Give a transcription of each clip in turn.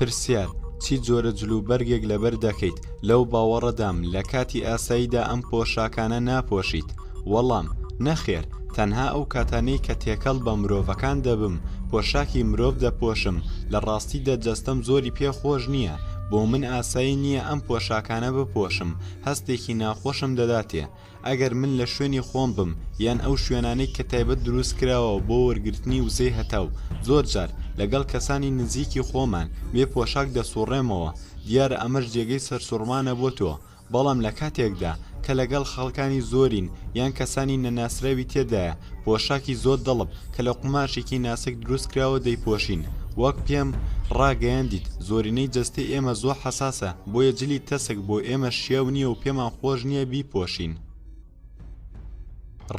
پرسیار چی جۆرە جلوبەرگێک لەبەر دەکەیت لەو باوەڕەدام لە کاتی ئاساییدا ئەم پۆشاکانە ناپۆشیت وەڵام نەخێر تەنها ئەو کاتانەی کە تێکەڵ بە مرۆڤەکان دەبم پۆشاکی مرۆڤ دەپۆشم لە ڕاستیدا جەستەم زۆری پێ خۆش نییە بۆ من ئاسایی نییە ئەم پۆشاکانە بپۆشم هەستێکی ناخۆشم دەداتێ ئەگەر من لە شوێنی خۆم بم یان ئەو شوێنانەی کە تایبەت دروست کراوە بۆ وەرگرتنی وزەی هەتاو زۆر جار لەگەڵ کەسانی نزیکی خۆمان بێ پۆشاک دەسوڕێمەوە دیارە ئەمەش جێگەی سەرسوڕمانە بۆ تۆ بەڵام لە کاتێکدا کە لەگەڵ خەڵکانی زۆرین یان کەسانی نەناسراوی تێدایە پۆشاکی زۆر دڵپ کە لە قوماشێکی ناسک دروست کراوە دەیپۆشین وەک پێم ڕاگەیاندیت زۆرینەی جەستەی ئێمە زۆر حساسە بۆیە جلی تەسک بۆ ئێمە شیاو نییە و پێمان خۆش نییە بیپۆشین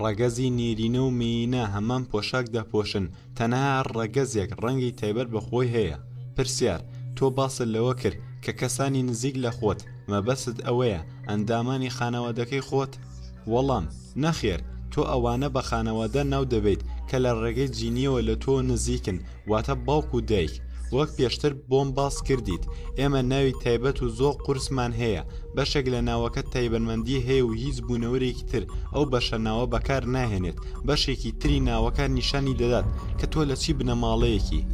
ڕەگەزی نێرینە و مینە هەمان پۆشاک دەپۆشن تەنها ڕەگەزێک ڕەنگی تایبەت بە خۆی هەیە پرسیار تۆ باست لەوە کرد کە کەسانی نزیک لە خۆت مەبەست ئەوەیە ئەندامانی خانەوادەکەی خۆت وەڵام، نەخێر، تۆ ئەوانە بە خانەوادە ناو دەبەیت کە لە ڕێگەی جینییەوە لە تۆ نزیکن، واتە باوک و دایک. وەک پێشتر بۆم باس کردیت، ئێمە ناوی تایبەت و زۆر قورسمان هەیە، بەشێک لە ناوەکە تایبەنمەندی هەیە و هیچ بوونەورێکی تر ئەو بەشە ناوە بەکار ناهێنێت، بەشێکی تری ناوەکە نیشانی دەدات کە تۆ لە چی بنەماڵەیەکی.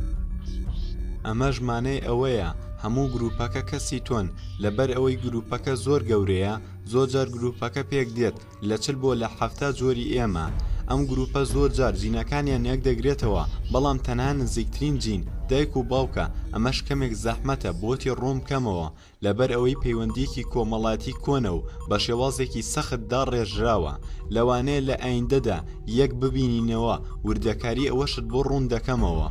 ئەمەش مانای ئەوەیە هەموو گرووپەکە کەسی تۆن، لەبەر ئەوەی گرووپەکە زۆر گەورەیە، زۆر جار گروپەکە پێک دێت لە چل بۆ لە حەفتا جۆری ئێمە ئەم گروپە زۆر جار جینەکانیان یەک دەگرێتەوە بەڵام تەنها نزیکترین جین دایک و باوکە ئەمەش کەمێک زەحمەتە بۆتی ڕوون بکەمەوە لەبەر ئەوەی پەیوەندیەکی کۆمەڵایەتی کۆنە و بە شێوازێکی سەخت داڕێژراوە لەوانەیە لە ئایندەدا یەک ببینینەوە وردەکاری ئەوەشت بۆ ڕوون دەکەمەوە.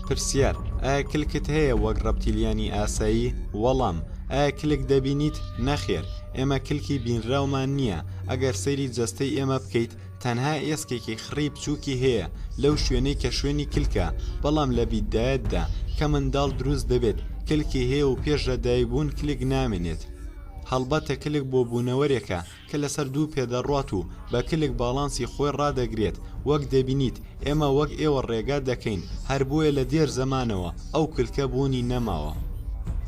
پرسیار، ئایا کلکت هەیە وەک ڕەپتیلیانی ئاسایی؟ وەڵام، ئایا کلک دەبینیت؟ نەخێر، ئێمە کلکی بینراومان نییە، ئەگەر سەیری جەستەی ئێمە بکەیت تەنها ئێسکێکی خڕی بچووکی هەیە لەو شوێنەی کە شوێنی کلکە، بەڵام لە بیدایەتدا کە منداڵ دروست دەبێت کلکی هەیە و پێش لەدایکبوون کلک نامێنێت. هەڵبەتە کلک بۆ بوونەوەرێکە کە لەسەر دوو پێ دەڕوات و بە کلک باڵانسی خۆی ڕادەگرێت، وەک دەبینیت ئێمە وەک ئێوە ڕێگا دەکەین، هەر بۆیە لە دێر زەمانەوە ئەو کلکە بوونی نەماوە.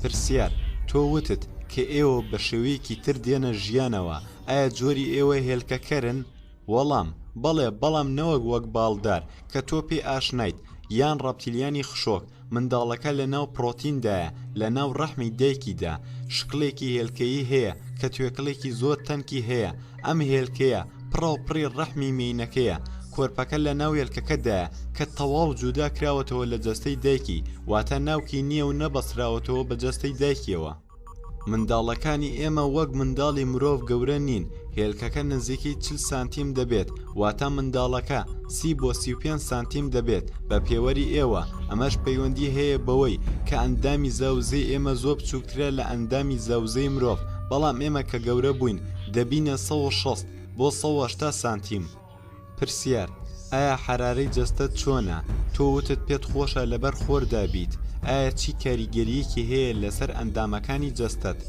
پرسیار، تۆ وتت کە ئێوە بە شێوەیەکی تر دێنە ژیانەوە، ئایا جۆری ئێوە هێلکەکەرن؟ وەڵام، بەڵێ، بەڵام نەوەک وەک باڵدار کە تۆ پێی ئاشنایت، یان ڕەپتیلیانی خشۆک، منداڵەکە لە ناو پڕۆتیندایە، لە ناو ڕەحمی دایکیدا، شکڵێکی هێلکەیی هەیە کە توێکڵێکی زۆر تەنکی هەیە، ئەم هێلکەیە پڕاوپڕی ڕەحمی مێینەکەیە، کۆرپەکە لە ناو هێلکەکەدایە کە تەواو جودا کراوەتەوە لە جەستەی دایکی، واتە ناوکی نییە و نەبەستراوەتەوە بە جەستەی دایکیەوە. منداڵەکانی ئێمە وەک منداڵی مرۆڤ گەورە نین، هێلکەکە نزیکەی چل سانتیم دەبێت، واتە منداڵەکە سی بۆ سی و پێنج سانتیم دەبێت بە پێوەری ئێوە، ئەمەش پەیوەندی هەیە بەوەی کە ئەندامی زاوزێی ئێمە زۆر بچووکترە لە ئەندامی زاوزێی مرۆڤ، بەڵام ئێمە کە گەورە بووین دەبینە سەد و شەست بۆ سەد و هەشتا سانتیم. پرسیار، ئایا حەرارەی جەستەت چۆنە؟ تۆ وتت پێت خۆشە لەبەر خۆردا بیت، ئایا چی کاریگەرییەکی هەیە لەسەر ئەندامەکانی جەستەت؟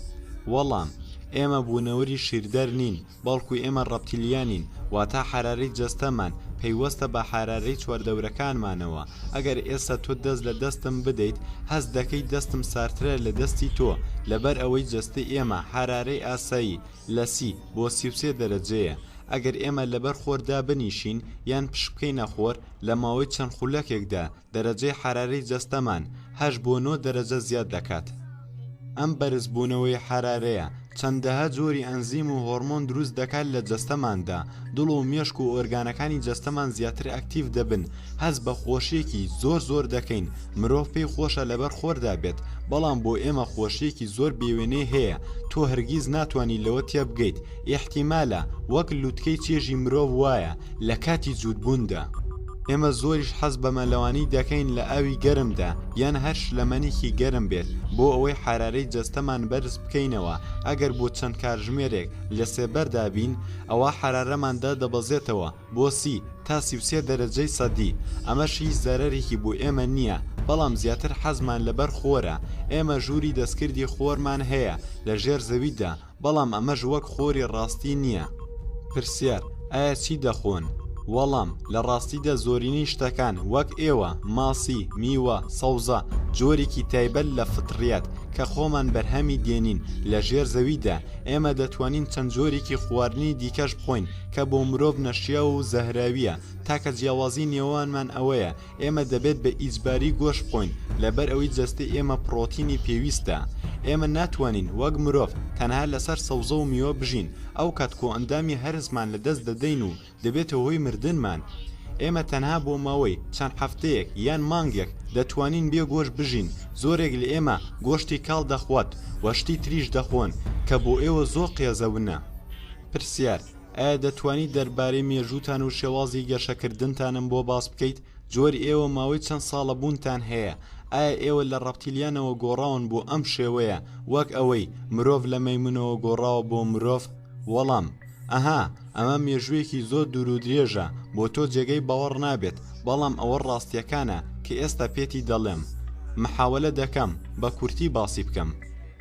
وەڵام، ئێمە بوونەوەری شیردەر نین، بەڵکو ئێمە ڕەپتیلیانین، واتە حەرارەی جەستەمان پەیوەستە بە حەرارەی چواردەورەکانمانەوە، ئەگەر ئێستا تۆ دەست لە دەستم بدەیت، هەست دەکەیت دەستم ساردترە لە دەستی تۆ، لەبەر ئەوەی جەستەی ئێمە حەرارەی ئاسایی لە سی بۆ سی و سێ دەرەجەیە ئەگەر ئێمە لەبەر خۆر دابنیشین یان پشتبکەینە خۆر لە ماوەی چەند خولەکێکدا دەرەجەی حەرارەی جەستەمان هەشت بۆ نۆ دەرەجە زیاد دەکات ئەم بەرزبوونەوەی حەرارەیە چەندەها جۆری ئەنزیم و هۆڕمۆن دروست دەکات لە جەستەماندا دڵ و مێشک و ئۆرگانەکانی جەستەمان زیاتر ئەکتیڤ دەبن هەست بە خۆشیەکی زۆر زۆر دەکەین مرۆڤ پێی خۆشە لەبەر خۆردا بێت بەڵام بۆ ئێمە خۆشیەکی زۆر بێوێنەی هەیە تۆ هەرگیز ناتوانانی لەوە تێبگەیت ئیحتیمالە وەک لوتکەی چێژی مرۆڤ وایە لە کاتی جووتبووندا ئێمە زۆریش حەز بە مەلەوانی دەکەین لە ئاوی گەرمدا یان هەر شلەمەنیکی گەرم بێت بۆ ئەوەی حەرارەی جەستەمان بەرز بکەینەوە ئەگەر بۆ چەند کاتژمێرێک لە سێبەردا بین ئەوا حەرارەمان دادەبەزێتەوە بۆ سی تا سی و سێ دەرەجەی سەدی، ئەمەش هیچ زەرەرێکی بۆ ئێمە نییە، بەڵام زیاتر حەزمان لەبەر خۆرە، ئێمە ژووری دەستکردی خۆرمان هەیە لە ژێر زەویدا، بەڵام ئەمەش وەک خۆری ڕاستی نییە. پرسیار، ئایا چی دەخۆن؟ وەڵام، لە ڕاستیدا زۆرینەی شتەکان وەک ئێوە، ماسی، میوە، سەوزە، جۆرێکی تایبەت لە فطریات کە خۆمان بەرهەمی دێنین لە ژێر زەویدا، ئێمە دەتوانین چەند جۆرێکی خواردنی دیکەش بخۆین، کە بۆ مرۆڤ نەشیاو و زەهراوییە، تاکە جیاوازی نێوانمان ئەوەیە ئێمە دەبێت بە ئیجباری گۆشت بخۆین لەبەر ئەوەی جەستەی ئێمە پڕۆتینی پێویستە. ئێمە ناتوانین وەک مرۆڤ تەنها لەسەر سەوزە و میوە بژین، ئەو کات کۆئەندامی هەرسمان لەدەست دەدەین و دەبێتە هۆی مردنمان. ئێمە تەنها بۆ ماوەی چەند هەفتەیەک یان مانگێک دەتوانین بێ گۆشت بژین، زۆرێک لە ئێمە گۆشتی کاڵ دەخوات و شتی تریش دەخۆن کە بۆ ئێوە زۆر قێزەونە. پرسیار، ئایا دەتوانی دەربارەی مێژووتان و شێوازی گەشەکردنتانم بۆ باس بکەیت؟ جۆر ئێوە ماوەی چەند ساڵە بوونتان هەیە؟ ئایا ئێوە لە ڕەپتیلیانەوە گۆڕاون بۆ ئەم شێوەیە وەک ئەوەی مرۆڤ لە مەیمونەوە گۆڕاوە بۆ مرۆڤ؟ وەڵام، ئەها، ئەمە مێژوویەکی زۆر دوور و درێژە، بۆ تۆ جێگەی باوەڕ نابێت، بەڵام ئەوە ڕاستییەکانە کە ئێستا پێتی دەڵێم. محاوەلە دەکەم بە کورتی باسی بکەم.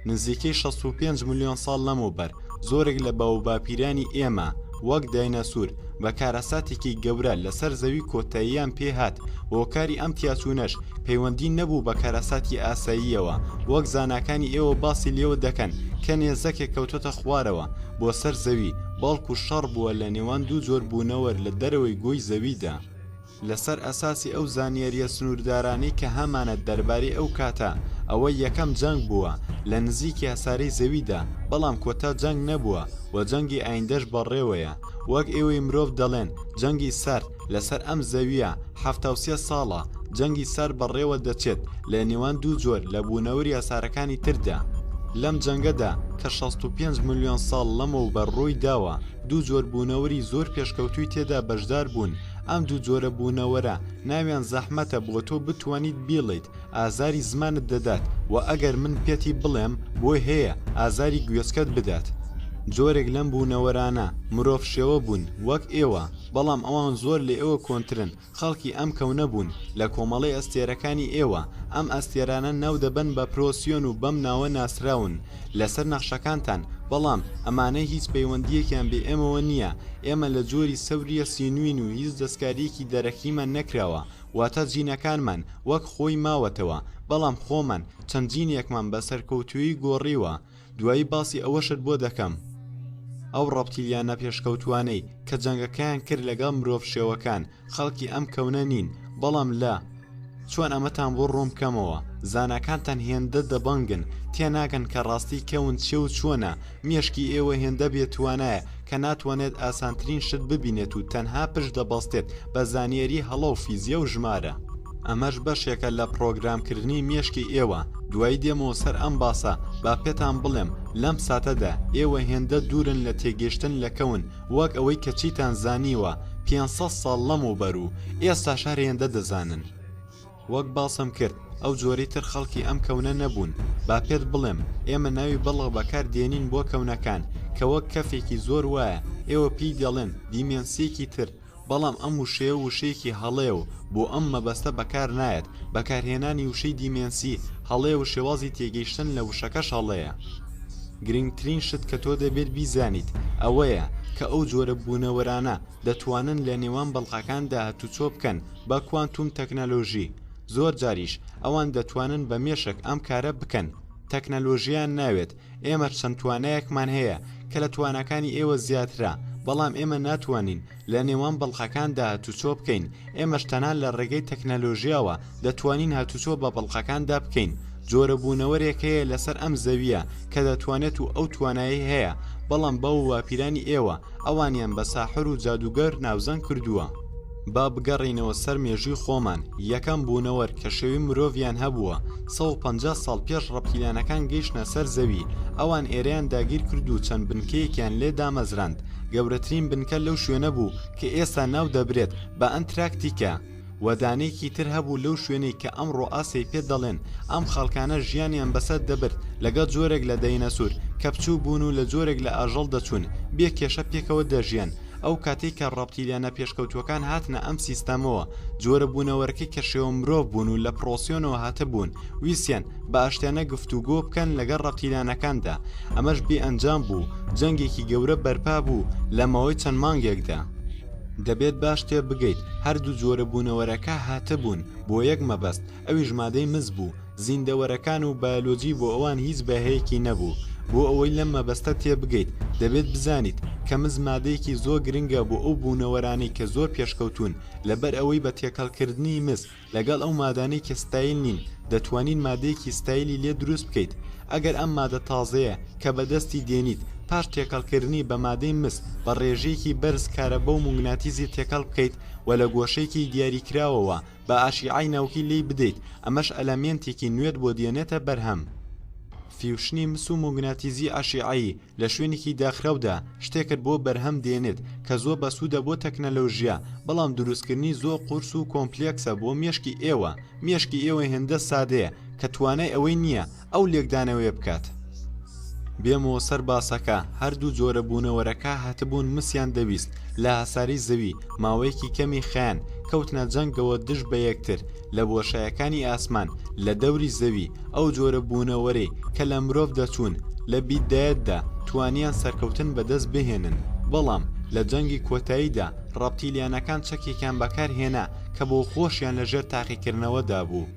نزیکەی شەست و پێنج ملیۆن ساڵ لەمەوبەر زۆرێک لە باووباپیرانی ئێمە وەک داینەسور بە کارەساتێکی گەورە لەسەر زەوی کۆتاییان پێهات و هۆکاری ئەم تیاچوونەش پەیوەندی نەبوو بە کارەساتی ئاساییەوە وەک زاناکانی ئێوە باسی لێوە دەکەن کە نێزەکێک کەوتۆتە خوارەوە بۆ سەر زەوی بەڵکو شەڕ بووە لە نێوان دوو جۆر بوونەوەر لە دەرەوەی گۆی زەویدا. لەسەر ئەساسی ئەو زانیارییە سنووردارانەی کە هەمانە دەربارەی ئەو کاتە، ئەوە یەکەم جەنگ بووە لە نزیک یاسارەی زەویدا، بەڵام کۆتا جەنگ نەبووە و جەنگی ئایندەش بەڕێوەیە. وەک ئێوەی مرۆڤ دەڵێن جەنگی سارد لەسەر ئەم زەوییە حەفتا و سێ ساڵە، جەنگی سارد بەڕێوە دەچێت لە نێوان دوو جۆر لە بوونەور یاسارەکانی تردا. لەم جەنگەدا کە شەست و پێنج ملیۆن ساڵ لەمەوبەر ڕووی داوە، دوو جۆر بوونەوری زۆر پێشکەوتووی تێدا بەشدار بوون، ئەم دوو جۆرە بوونەوەرە ناویان زەحمەتە بۆ تۆ بتوانیت بیڵیت ئازاری زمانت دەدات و ئەگەر من پێتی بڵێم بۆی هەیە ئازاری گوێچکەت بدات جۆرێک لەم بوونەوەرانە مرۆڤ شێوە بوون وەک ئێوە بەڵام ئەوان زۆر لە ئێوە کۆنترن خەڵکی ئەم کەونە بوون لە کۆمەڵی ئەستێرەکانی ئێوە ئەم ئەستێرانە ناو دەبەن بە پرۆسیۆن و بەم ناوە ناسراون لەسەر نەخشەکانتان، بەڵام ئەمانە هیچ پەیوەندییەکیان بێ ئێمەوە نییە، ئێمە لە جۆری سەورییە سینووین و هیچ دەستکارییەکی دەرەکیمان نەکراوە، واتە جینەکانمان وەک خۆی ماوەتەوە، بەڵام خۆمان چەند جینێکمان بە سەرکەوتوویی گۆڕیوە، دوایی باسی ئەوەشت بۆ دەکەم. ئەو ڕەپتیلیانە پێشکەوتووانەی کە جەنگەکەیان کرد لەگەڵ مرۆڤ شێوەکان، خەڵکی ئەم کەونە نین بەڵام لە چۆن ئەمەتان بۆ ڕوون بکەمەوە زاناکانتان هێندە دەبەنگن تێناگەن کە ڕاستی کەون چێ و چۆنە مێشکی ئێوە هێندە بێتوانایە کە ناتوانێت ئاسانترین شت ببینێت و تەنها پشت دەبەستێت بە زانیەری هەڵە و فیزیا و ژمارە ئەمەش بەشێکە لە پڕۆگرامکردنی مێشکی ئێوە دوای دێمەوە سەر ئەم باسە با پێتان بڵێم لەم ساتەدا ئێوە هێندە دوورن لە تێگەشتن لە کەون وەک ئەوەی کە چیتان زانیوە پێنج سەد ساڵ لەمەوبەر و ئێستاش هەر هێندە دەزانن. وەک باسم کرد ئەو جۆرەی تر خەڵکی ئەم کەونە نەبوون، با پێت بڵێم ئێمە ناوی بڵغ بەکار دێنین بۆ کەونەکان کە وەک کەفێکی زۆر وایە، ئێوە پێی دەڵێن دیمێنسیەکی تر، بەڵام ئەم وشەیە وشەیەکی هەڵەیە و بۆ ئەم مەبەستە بەکار نایەت، بەکارهێنانی وشەی دیمێنسی هەڵەیە و شێوازی تێگەیشتن لە وشەکەش هەڵەیە. گرنگترین شت کە تۆ دەبێت بیزانیت ئەوەیە کە ئەو جۆرە بوونەوەرانە دەتوانن لە نێوان بەڵقەکاندا هاتوچۆ بکەن بە کوانتوم تەکنەلۆژی، زۆرجاریش ئەوان دەتوانن بە مێشک ئەم کارە بکەن، تەکنەلۆژییان ناوێت ئێمە چەند توانایەکمان هەیە کە لە تواناکانی ئێوە زیاترە بەڵام ئێمە ناتوانین لە نێوان بەڵقەکاندا هاتوچۆ بکەین ئێمەش تەنان لە ڕێگەی تەکنەلۆژیاوە دەتوانین هاتوچۆ بە بەڵقەکاندا بکەین جۆرە بوونەوەرێک هەیە لەسەر ئەم زەویە کە دەتوانێت و ئەو توانایی هەیە بەڵام باو و باپیرانی ئێوە ئەوانیان بە ساحر و جادوگەر ناوزەنگ کردووە با بگەڕێینەوە سەر مێژووی خۆمان، یەکەم بوونەوەر کە شێوی مرۆڤیان هەبووە، سەد و پەنجا ساڵ پێش ڕەپتیلیانەکان گەیشتنە سەر زەوی، ئەوان ئێرەیان داگیر کرد و چەند بنکەیەکیان لێ دامەزراند، گەورەترین بنکە لەو شوێنە بوو کە ئێستا ناو دەبرێت بە ئەنتراکتیکا و دانەیەکی تر هەبوو لەو شوێنەی کە ئەمڕۆ ئاسیای پێ دەڵێن، ئەم خەڵکانە ژیانیان بەسەر دەبرد لەگەڵ جۆرێک لە دەینەسور کە بچووک بوون و لە جۆرێک لە ئاژەڵ دەچوون بێ کێشە پێکەوە دەژیان، ئەو کاتەی کە ڕەپتیلیانە پێشکەوتووەکان هاتنە ئەم سیستەمەوە، جۆرە بوونەوەرەکەی کە شێوە مرۆڤ بوون و لە پرۆسیۆنەوە هاتبوون، ویستیان بە ئاشتیانە گفتوگۆ بکەن لەگەڵ ڕەپتیلیانەکاندا، ئەمەش بێ ئەنجام بوو، جەنگێکی گەورە بەرپا بوو لە ماوەی چەند مانگێکدا. دەبێت باش تێبگەیت هەردوو جۆرە بوونەوەرەکە هاتبوون بۆ یەک مەبەست، ئەویش مادەی مس بوو، زیندەوەرەکان و بایۆلۆجی بۆ ئەوان هیچ بەهەیەکی نەبوو. بۆ ئەوەی لەم مەبەستە تێبگەیت، دەبێت بزانیت، کە مس مادەیەکی زۆر گرنگە بۆ ئەو بوونەوەرانەی کە زۆر پێشکەوتوون، لەبەر ئەوەی بە تێکەڵکردنی مس لەگەڵ ئەو مادانەی کە ستایل نین، دەتوانیت مادەیەکی ستایلی لێ دروست بکەیت. ئەگەر ئەم مادە تازەیە کە بەدەستی دێنیت، پاش تێکەڵکردنی بە مادەی مس، بە ڕێژەیەکی بەرز کارەبا و موگناتیزی تێکەڵ بکەیت و لە گۆشەیەکی دیاریکراوەوە با ئاشیعای ناوکی لێی بدەیت، ئەمەش ئەلەمێنتێکی نوێت بۆ دێنێتە بەرهەم. فیوشنی مس و موگناتیزی ئاشیعایی لە شوێنێکی داخراودا شتێکت بۆ بەرهەم دێنێت کە زۆر بەسوودە بۆ تەکنەلۆژیا، بەڵام دروستکردنی زۆر قورس و کۆمپلێکسە بۆ مێشکی ئێوە، مێشکی ئێوە هێندە سادەیە کە توانای ئەوەی نییە ئەو لێکدانەوەیە بکات بێمەوە سەر باسەکە هەردوو جۆرە بوونەوەرەکە هەتبوون مسیان دەویست لە هەساری زەوی ماوەیەکی کەمی خیان کەوتنە جەنگەوە دژ بە یەکتر لە بۆشایەکانی ئاسمان لە دەوری زەوی ئەو جۆرە بوونەوەرەی کە لە مرۆڤ دەچوون لە بیدایەتدا توانیان سەرکەوتن بەدەست بهێنن بەڵام لە جەنگی کۆتاییدا ڕەپتیلیانەکان چەکێکیان بەکارهێنا کە بۆ خۆشیان لەژێر تاقیکردنەوەدا بوو.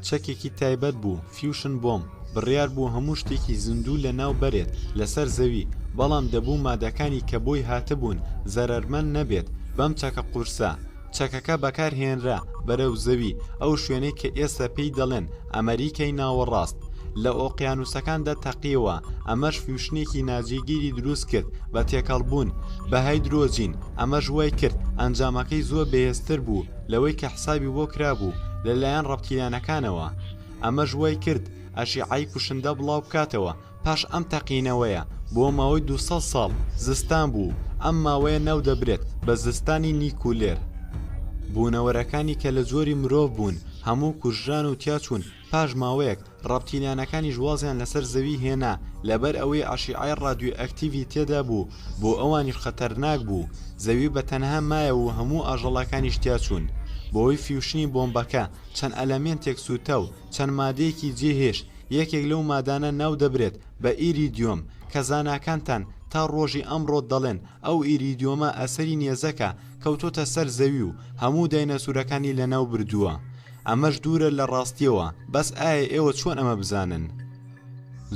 چەکێکی تایبەت بوو، فیوشن بۆمب، بڕیار بوو هەموو شتێکی زیندوو لەناو بەرێت لەسەر زەوی، بەڵام دەبوو مادەکانی کە بۆی هاتبوون زەرەرمەند نەبێت بەم چەکە قورسە. چەکەکە بەکارهێنرا بەرەو زەوی، ئەو شوێنەی کە ئێستا پێی دەڵێن ئەمەریکای ناوەڕاست. لە ئۆقیانووسەکاندا تەقییەوە، ئەمەش فیوشنێکی ناجێگیری دروست کرد بە تێکەڵبوون بە هایدرۆجین، ئەمەش وای کرد ئەنجامەکەی زۆر بەهێزتر بوو لەوەی کە حسابی بۆ کرابوو لەلایەن ڕەپتیلانەکانەوە ئەمەش وای کرد ئەشیعای کوشندە بڵاو بکاتەوە پاش ئەم تەقینەوەیە بۆ ماوەی 200 ساڵ زستان بوو ئەم ماوەیە ناو دەبرێت بە زستانی نیکولێر بوونەوەرەکانی کە لە جۆری مرۆڤ بوون هەموو کوژران و تیاچوون پاش ماوەیەک ڕەپتیلیانەکانیش وازیان لەسەر زەوی هێنا لەبەر ئەوەی ئەشیعەی ڕادیۆئەکتیڤی تێدا بوو بۆ ئەوانیش خەتەرناک بوو زەوی بە تەنها مایەوە و هەموو ئاژەڵەکانیش تیا چوون بەهۆی فیوشنی بۆمبەکە چەند ئەلەمێنتێک سووتا و چەند مادەیەکی جێ هێشت یەکێک لەو مادانە ناو دەبرێت بە ئیریدیۆم کە زاناکانتان تا ڕۆژی ئەمڕۆ دەڵێن ئەو ئیریدیۆمە ئەسەری نێزەکە کەوتۆتە سەر زەوی و هەموو داینەسورەکانی لەناو بردووە ئەمەش دوورە لە ڕاستیەوە بەس ئایا ئێوە چۆن ئەمە بزانن؟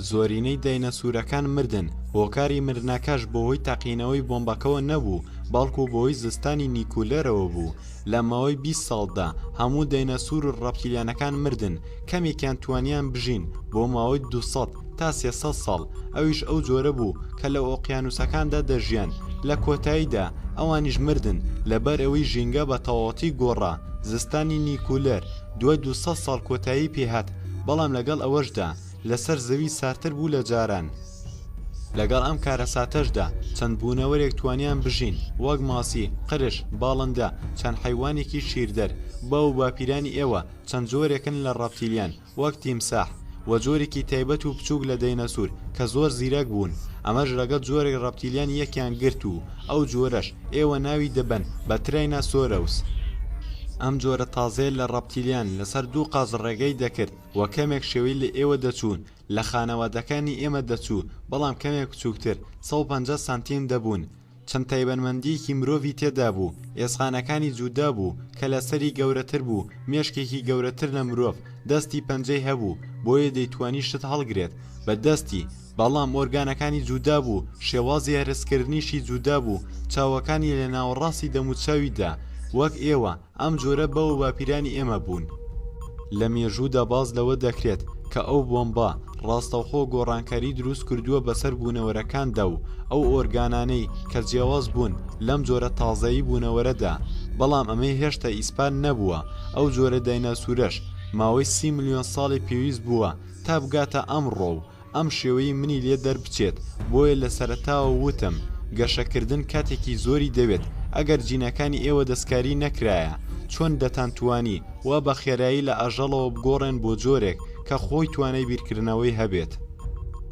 زۆرینەی داینەسورەکان مردن هۆکاری مردنەکەش بەهۆی تەقینەوەی بۆمبەکەوە نەبوو بەڵکو بەهۆی زستانی نیکولەرەوە بوو لە ماوەی بیست ساڵدا هەموو داینەسور و ڕەپتیلیانەکان مردن کەمێکیان توانیان بژین بۆ ماوەی دوو سەد تا سێ سەد ساڵ ئەویش ئەو جۆرە بوو کە لە ئۆقیانووسەکاندا دەژیان، لە کۆتاییدا ئەوانیش مردن لەبەر ئەوەی ژینگە بە تەواوەتی گۆڕا، زستانی نیکولەر دوای دوو سەد ساڵ کۆتایی پێ هات، بەڵام لەگەڵ ئەوەشدا لەسەر زەوی ساردتر بوو لە جاران. لەگەڵ ئەم کارەساتەشدا چەند بوونەوەرێک توانیان بژین وەک ماسی، قرش، باڵندە، چەند حەیوانێکی شیردەر، باو و باپیرانی ئێوە چەند جۆرێکن لە ڕەپتیلیان، وەک تیمساح، و جۆرێکی تایبەت و بچووک لە دەینەسور کە زۆر زیرەک بوون، ئەمەش ڕەگەز جۆرێک ڕەپتیلیان یەکیان گرت و ئەو جۆرەش ئێوە ناوی دەبەن بە ترایناسۆرەوس. ئەم جۆرە تازەیە لە ڕەپتیلیان لەسەر دوو قاز ڕێگەی دەکرد و کەمێک شێوەی لە ئێوە دەچوون، لە خانەوادەکانی ئێمە دەچوو، بەڵام کەمێک بچووکتر، سەد و پەنجا سانتیم، دەبوون. چەند تایبەنمەندییەکی مرۆڤی تێدا بوو، ئێسقانەکانی جودا بوو، کەلەسەری گەورەتر بوو، مێشکێکی گەورەتر لە مرۆڤ، دەستی پەنجەی هەبوو، بۆیە دەیتوانی شت هەڵگرێت بە دەستی، بەڵام ئۆرگانەکانی جودا بوو، شێوازی هەرسکردنیشی جودا بوو، چاوەکانی لە ناوەڕاستی دەموچاویدا وەک ئێوە، ئەم جۆرە باو و باپیرانی ئێمە بوون. لە مێژوودا باس لەوە دەکرێت کە ئەو بۆمبە ڕاستەوخۆ گۆڕانکاری دروست کردووە بەسەر بوونەوەرەکاندا و ئەو ئۆرگانانەی کە جیاواز بوون لەم جۆرە تازەی بوونەوەرەدا، بەڵام ئەمەی هێشتا ئیسپات نەبووە ئەو جۆرە دایناسورەش ماوەی سی ملیۆن ساڵی پێویست بووە تا بگاتە ئەمڕۆ و ئەم شێوەیەی منی لێ دەربچێت، بۆیە لە سەرەتاوە وتم گەشەکردن کاتێکی زۆری دەوێت، ئەگەر جینەکانی ئێوە دەستکاری نەکرایە، چۆن دەتانتوانی وا بە خێرایی لە ئاژەڵەوە بگۆڕێن بۆ جۆرێک کە خۆی توانای بیرکردنەوەی هەبێت؟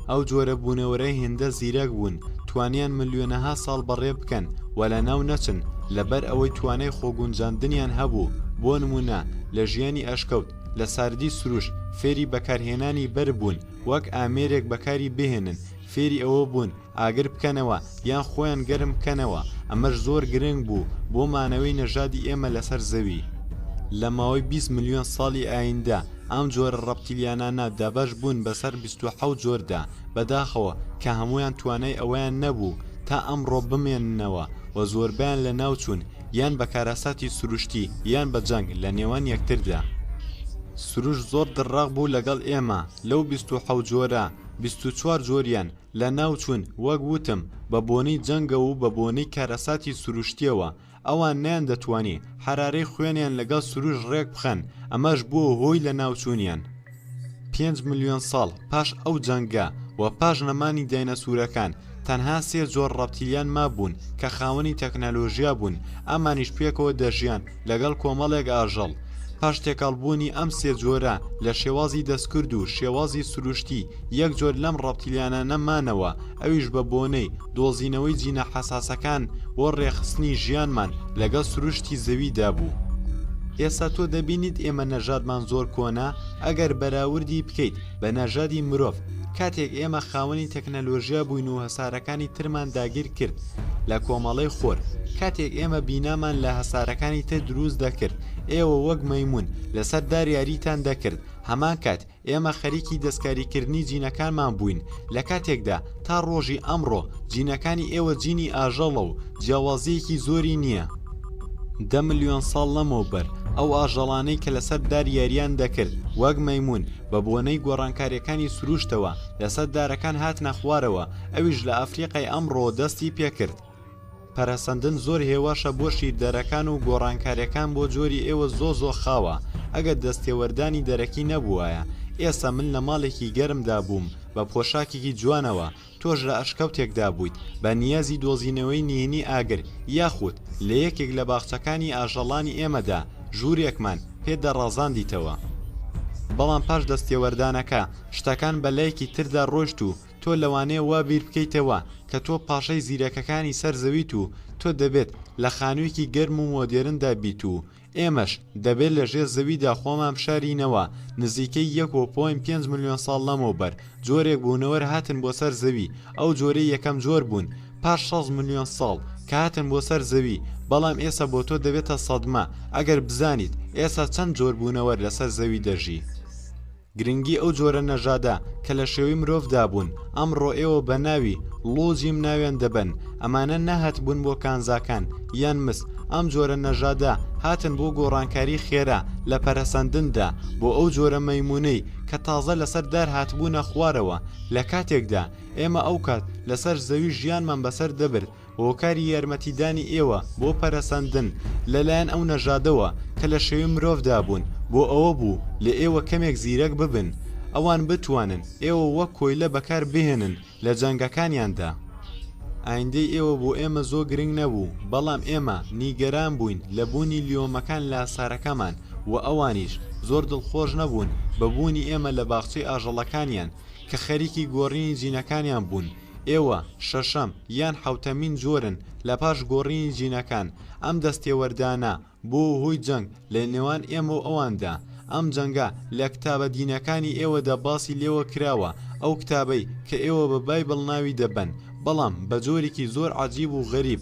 ئەو جۆرە بوونەوەرە هێندە زیرەک بوون توانیان ملیۆنەها ساڵ بەڕێ بکەن و لەناو نەچن، لەبەر ئەوەی توانای خۆگونجاندنیان هەبوو، بۆ نموونە لە ژیانی ئەشکەوت، لە ساردی سروشت فێری بەکارهێنانی بەرد بوون وەک ئامێرێک بەکاری بهێنن، فێری ئەوە بوون ئاگر بکەنەوە یان خۆیان گەرم بکەنەوە، ئەمەش زۆر گرنگ بوو بۆ مانەوەی نەژادی ئێمە لەسەر زەوی. لە ماوەی بیست ملیۆن ساڵی ئاییندە، ئەم جۆرە ڕەپتیلیانانە دابەش بوون بەسەر بیست و حەوت جۆردا، بەداخەوە کە هەموویان توانای ئەوەیان نەبوو تا ئەمڕۆ بمێننەوە و زۆربەیان لەناوچوون، یان بە کارەساتی سروشتی یان بە جەنگ لە نێوان یەکتردا سروش زۆر دڕاق بوو لەگەڵ ئێمە لەو بیست و حەوت جۆرە بیست و چوار جۆریان لە ناو چوون وەک وتم بە بۆنەی جەنگە و بە بۆنەی کارەساتی سروشتیەوە ئەوان نیان دەتوانی حەرارەی خوێنیان لەگەڵ سروش ڕێک بخەن ئەمەش بووە هۆی لە ناو چوونیان پێنج ملیۆن ساڵ پاش ئەو جەنگە و پاش نەمانی داینەسورەکان تەنها سێ جۆر ڕەپتیلیان مابوون کە خاوەنی تەکنەلۆژیا بوون ئەمانیش پێکەوە دەژیان لەگەڵ کۆمەڵێک ئاژەڵ پاش تێکەڵبوونی ئەم سێ جۆرە لە شێوازی دەستکرد و شێوازی سروشتی یەک جۆر لەم ڕەپتیلیانانە مانەوە ئەویش بە بۆنەی دۆزینەوەی جینە حەساسەکان بۆ ڕێکخستنی ژیانمان لەگەڵ سروشتی زەویدا بوو. ئێستا تۆ دەبینیت ئێمە نەژادمان زۆر کۆنە ئەگەر بەراوردی بکەیت بە نەژادی مرۆڤ، کاتێک ئێمە خاوەنی تەکنەلۆژیا بووین و هەسارەکانی ترمان داگیر کرد لە کۆمەڵەی خۆر، کاتێک ئێمە بینامان لە هەسارەکانی تر دروست دەکرد ئێوە وەک مەیمون لەسەر دار یاریتان دەکرد هەمان کات ئێمە خەریکی دەستکاریکردنی جینەکانمان بووین لە کاتێکدا تا ڕۆژی ئەمڕۆ جینەکانی ئێوە جینی ئاژەڵە و جیاوازیەکی زۆری نییە. دە ملیۆن ساڵ لەمەوبەر ئەو ئاژەڵانەی کە لەسەر دار یارییان دەکرد وەک مەیموون بە بۆنەی گۆڕانکاریەکانی سروشتەوە لەسەر دارەکان هاتنە خوارەوە ئەویش لە ئەفریقای ئەمڕۆ دەستی پێکرد. پەرەسەندن زۆر هێواشە بۆ شیردەرەکان و گۆڕانکاریەکان بۆ جۆری ئێوە زۆ زۆ خاوە ئەگەر دەستێوەردانی دەرەکی نەبووایە ئێستا من لە ماڵێکی گەرمدا بووم بە پۆشاکێکی جوانەوە تۆش لە ئەشکەوتێکدا بوویت بە نیازی دۆزینەوەی نهێنی ئاگر یاخود لە یەکێک لە باخچەکانی ئاژەڵانی ئێمەدا ژوورێکمان پێ دەڕازاندیتەوە بەڵام پاش دەستێوەردانەکە شتەکان بە لایەکی تردا ڕۆشت و تۆ لەوانەیە وا بیر بکەیتەوە کە تۆ پاشای زیرەکەکانی سەر زەویت و تۆ دەبێت لە خانوویەکی گەرم و مۆدێرندا بیت و ئێمەش دەبێت لە ژێر زەویدا خۆمان بشارینەوە نزیکەی یەک و پۆینت پێنج ملیۆن ساڵ لەمەوبەر جۆرێک بوونەوەر هاتن بۆ سەر زەوی ئەو جۆرەی یەکەم جۆر بوون پاش شەست ملیۆن ساڵ کە هاتن بۆ سەر زەوی بەڵام ئێستا بۆ تۆ دەبێتە سەدمە ئەگەر بزانیت ئێستا چەند جۆر بوونەوەر لەسەر زەوی دەژی. گرنگی ئەو جۆرە نەژادە کە لە شێوەی مرۆڤ دابوون ئەمڕۆ ئێوە بە ناوی، ڵو جیم، ناویان دەبەن ئەمانە نەهاتبوون بۆ کانزاکان یان مس ئەم جۆرە نەژادە هاتن بۆ گۆڕانکاری خێرا لە پەرەسەندندا بۆ ئەو جۆرە مەیمونەی کە تازە لەسەر دار هاتبوونە خوارەوە لە کاتێکدا ئێمە ئەوکات لەسەر زەوی ژیانمان بەسەر دەبرد هۆکاری یارمەتیدانی ئێوە بۆ پەرەسەندن لە لایەن ئەو نەژادەوە کە لە شێوەی مرۆڤدا بوون بۆ ئەوە بوو لە ئێوە کەمێک زیرەک ببن ئەوان بتوانن ئێوە وەک کۆیلە بەکار بهێنن لە جەنگەکانیاندا. ئایندەی ئێوە بۆ ئێمە زۆ گرنگ نەبوو بەڵام ئێمە نیگەران بووین لە بوونی لیۆمەکان لە سارەکەمان و ئەوانیش زۆر دڵخۆش نەبوون بە بوونی ئێمە لە باخچەی ئاژەڵەکانیان کە خەریکی گۆڕینی جینەکانیان بوون ئێوە شەشەم یان حەوتەمین جۆرن لە پاش گۆڕینی جینەکان، ئەم دەستێوەردانە بووە هۆی جەنگ لە نێوان ئێمە و ئەواندا، ئەم جەنگە لە کتابە دینەکانی ئێوەدا باسی لێوە کراوە، ئەو کتابەی کە ئێوە بە بایبڵ ناوی دەبەن، بەڵام بە جۆرێکی زۆر عەجیب و غەریب،